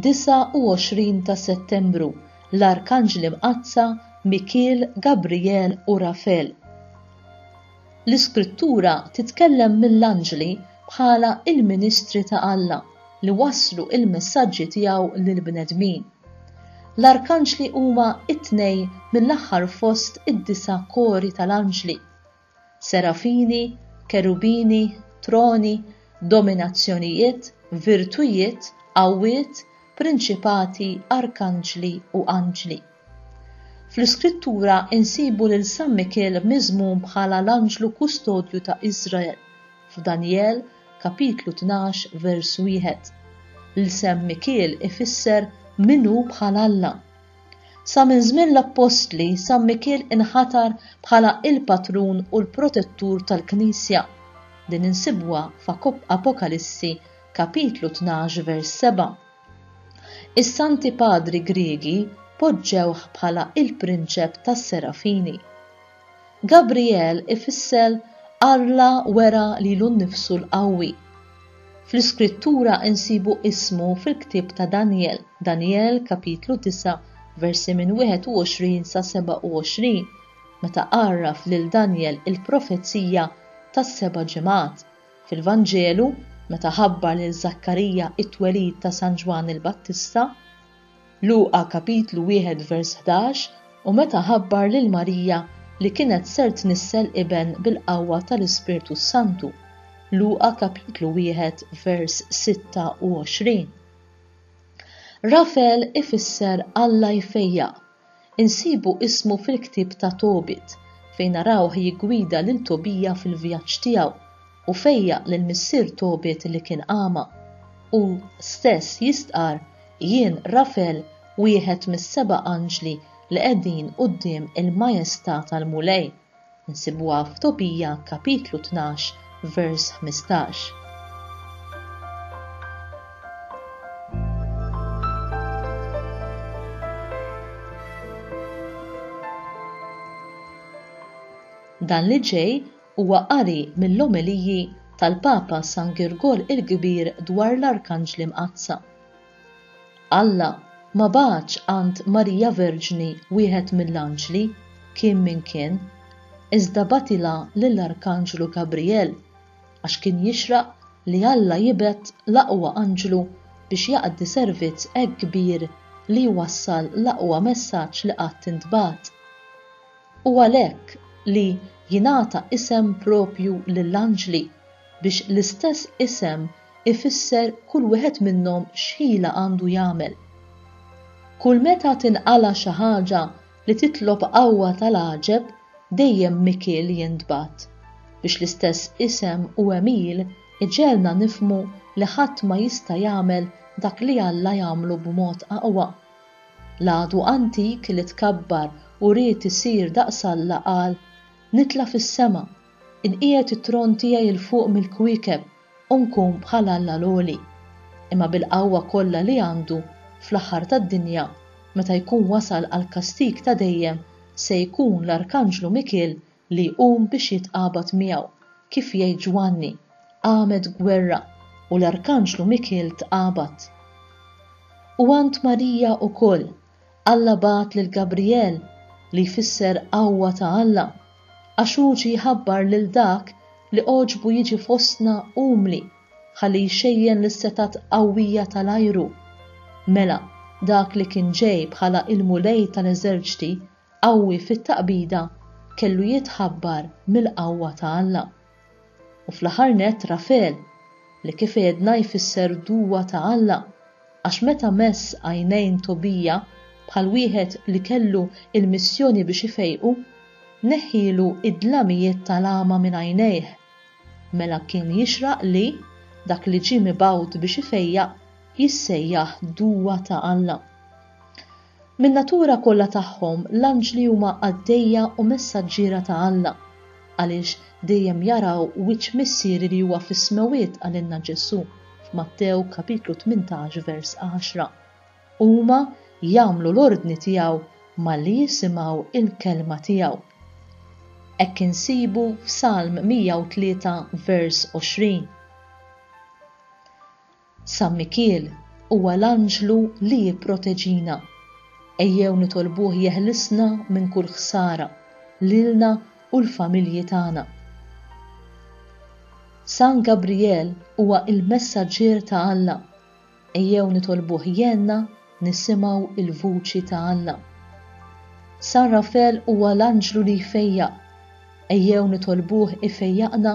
29 ta' Settembru l-Arkanġli Mqazza Mikiel, Gabriel u Rafel. L-Iskrittura titkellem mill-anġli bħala il-ministri ta' Alla li waslu il-messaġġi tiegħu lill-bnedmin. L-arkanġli huma t-tnejn mill-aħħar fost id-disa' kori tal-anġli, serafini, kerubini, troni, dominazzjonijiet, virtujiet, qawwiet, prinċipati, arkanġli u anġli. Fl-Iskrittura nsibu lil San Mikiel miżmum bħala l-anġlu kustodju ta' Iżrael, f'Danjel, kapitlu 12 vers 1. L-isem Mikiel ifisser min hu bħal Alla. Sa minn żmien l-appostli, San Mikiel inħatar bħala il-patrun u l-protettur tal-Knisja. Din insibuha f'Apokalissi kapitlu 12 vers 7. Is-Santi Padri Griegi poġġewh bħala il-prinċep tas-Serafini. Gabrijel ifisser Alla wera lilu nnifsu l-Qawwi. Fl-Iskrittura nsibu ismu fil-ktieb ta' Danjel, Danjel kapitlu 9 versi minn 21 sa 27, meta għarraf lil Danjel il-profezija tas-seba' ġimgħat, fil-Vanġelu meta ħabbar lil Żakkarija t-twelid ta' San Ġwann il-Battista, Luqa kapitlu 1 vers 11, U meta ħabbar lil Marija li kienet ser tnissel iben bil-qawwa tal-Ispirtu s-Santu, Luqa kapitlu 1 vers 26. Rafel ifisser Alla jfejjaq Insibu ismu fil-ktieb ta' Tobit, fejn narawh jiggwida lil Tobija fil-vjaġġ tiegħu u fejjaq lil missier Tobit li kien agħma. Hu stess jistqarr, Jien Rafel, wieħed mis-seba' anġli li qegħdin quddiem il-majestà tal-Mulej. Insibuha f'Tobija kapitlu tnax vers ħmistax. Dan li ġej huwa qari mill-omeliji tal-Papa San Girgol il-Kbir dwar l-Arkanġli Mqaddsa. Alla ma bagħatx għand Marija Verġni wieħed mill-anġli, kien min kien, iżda bagħtilha lill-arkanġlu Gabrijel, għax kien jixraq li Alla jibgħet l-aqwa anġlu biex jaqdi servizz hekk kbir li jwassal l-aqwa messaġġ li qatt intbagħat. U għalhekk li jingħata isem proprju lill-anġli, biex l-istess isem ifisser kull wieħed minnhom x'ħila għandu jagħmel. Kull meta tinqala' xi ħaġa li titlob qawwa tal-għaġeb dejjem Mikiel jintbagħat, biex l-istess isem u għemil iġegħelna nifhmu li ħadd ma jista' jagħmel dak li Alla jagħmlu b'mod aqwa. L-għadu antik li tkabbar u ried isir daqs Alla qal, Nitla' fis-sema, inqiegħed it-tron tiegħi 'l fuq mill-kwiekeb, u nkun bħal Alla l-għoli, imma bil-qawwa kollha li għandu, fl-aħħar tad-dinja, meta jkun wasal għall-kastig ta' dejjem, se jkun l-arkanġlu Mikiel li jqum biex jitqabad miegħu, kif jgħid Ġwanni, qamet gwerra, u l-arkanġlu Mikiel tqabad. U għand Marija wkoll, Alla bagħat lil Gabrijel, li jfisser Qawwa ta' Alla, għax hu ġie jħabbar lil dak li għoġbu jiġi fostna umli, ħalli jxejjen lis-setgħat qawwija tal-ajru. Mela, dak li kien ġej bħala l-Mulej tal-eżerċti, qawwi fit-taqbida, kellu jitħabbar mill-qawwa ta' Alla. U fl-aħħar nett Rafel, li kif għedna jfisser duwa ta' Alla, għax meta mess għajnejn Tobija bħal wieħed li kellu l-missjoni biex ifejqu, neħħielu d-dlamijiet tal-għama minn għajnejh. Mela kien jixraq li, dak li ġie mibgħut biex ifejjaq, jissejjaħ duwa ta' Alla. Min-natura kollha tagħhom l-anġli huma qaddejja u messaġġiera ta' Alla, għaliex dejjem jaraw wiċċ Missieri li huwa fis-smewwiet qalilna Ġesù f'Mattew kapitlu tmintax vers għaxra. Huma jagħmlu l-ordni tiegħu malli jisimgħu l-kelma tiegħu. Hekk insibu f'Salm 103 vers għoxrin. San Mikiel huwa l-anġlu li jipproteġina. Ejjew nitolbuh jeħlisna minn kull ħsara, lilna u l-familji tagħna. San Gabrijel huwa l-messaġġier ta' Alla. Ejjew nitolbuh jgħinna nisimgħu l-vuċi ta' Alla. San Rafel huwa l-anġlu li jfejjaq. Ejjew nitolbuh ifejjaqna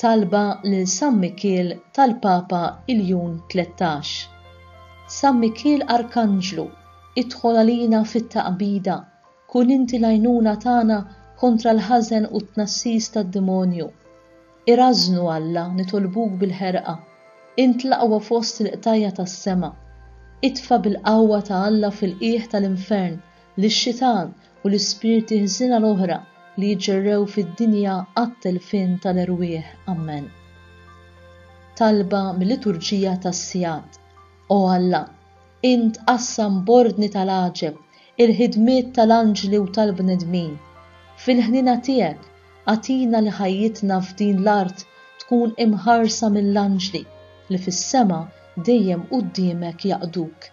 Talba lil San Mikiel tal-Papa Iljun Tlettax. San Mikiel Arkanġlu, idħol għalina fit-taqbida, kun inti l-għajnuna tagħna kontra l-ħażen u t-tnassis tad-demonju. Irażżnu, Alla, nitolbuk bil-ħerqa. Int l-aqwa fost il-qtajja' tas-sema. Itfa' bil-qawwa ta' Alla fil-qiegħ tal-infern lix-xitan u l-ispirti ħżiena l-oħra li jġerrew fid-dinja għat-telfien tal-erwieħ. Ammen. Talba mil-Liturġija tas-Sigħat, O Alla, int qassam b'ordni tal-għaġeb il-ħidmiet tal-anġli u tal-bnedmin, fil-ħniena tiegħek agħtina li ħajjitna f'din l-art tkun imħarsa mill-anġli li fis-sema dejjem quddiemek jaqduk.